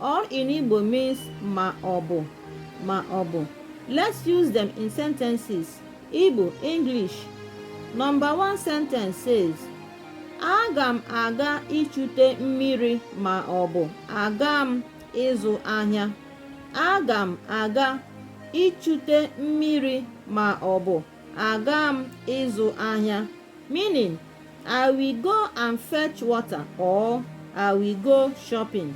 Or in Igbo means ma ọ bụ ma ọ bụ. Let's use them in sentences. Igbo, English. Number one sentence says, Aga m aga ichute mmiri ma ọ bụ aga m ịzụ ahịa. Aga m aga ichute mmiri ma ọ bụ Aga m ịzụ ahịa meaning I will go and fetch water or I will go shopping.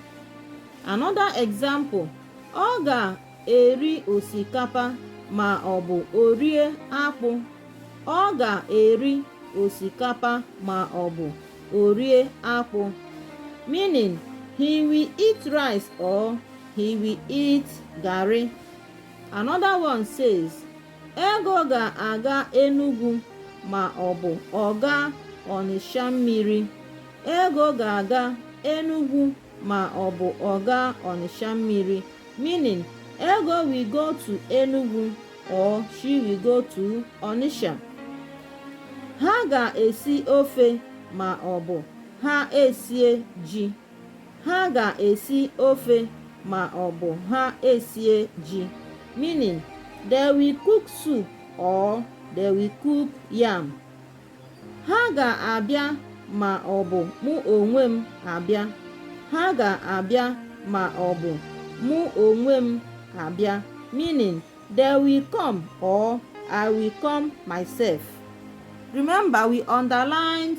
Another example, ọ ga-eri osikapa ma ọ bụ o rie akpụ. Ọ ga-eri osikapa ma ọ bụ o rie akpụ meaning he will eat rice or he will eat garri. Another one says Ego ga-aga Enugwu ma ọ bụ ọ gaa Ọnịsha mmiri. Ego ga-aga Enugwu ma ọ bụ ọ gaa Ọnịsha mmiri meaning Ego will go to Enugwu or she will go to Ọnịsha. Ha ga-esi ofe ma ọ bụ ha esie ji. Ha ga-esi ofe ma ọ bụ ha esie ji, meaning they will cook soup or they will cook yam. Ha ga-abịa ma ọ bụ mụ onwe m abịa. Ha ga-abịa ma ọ bụ mụ onwe m abịa, meaning they will come or I will come myself. Remember, we underlined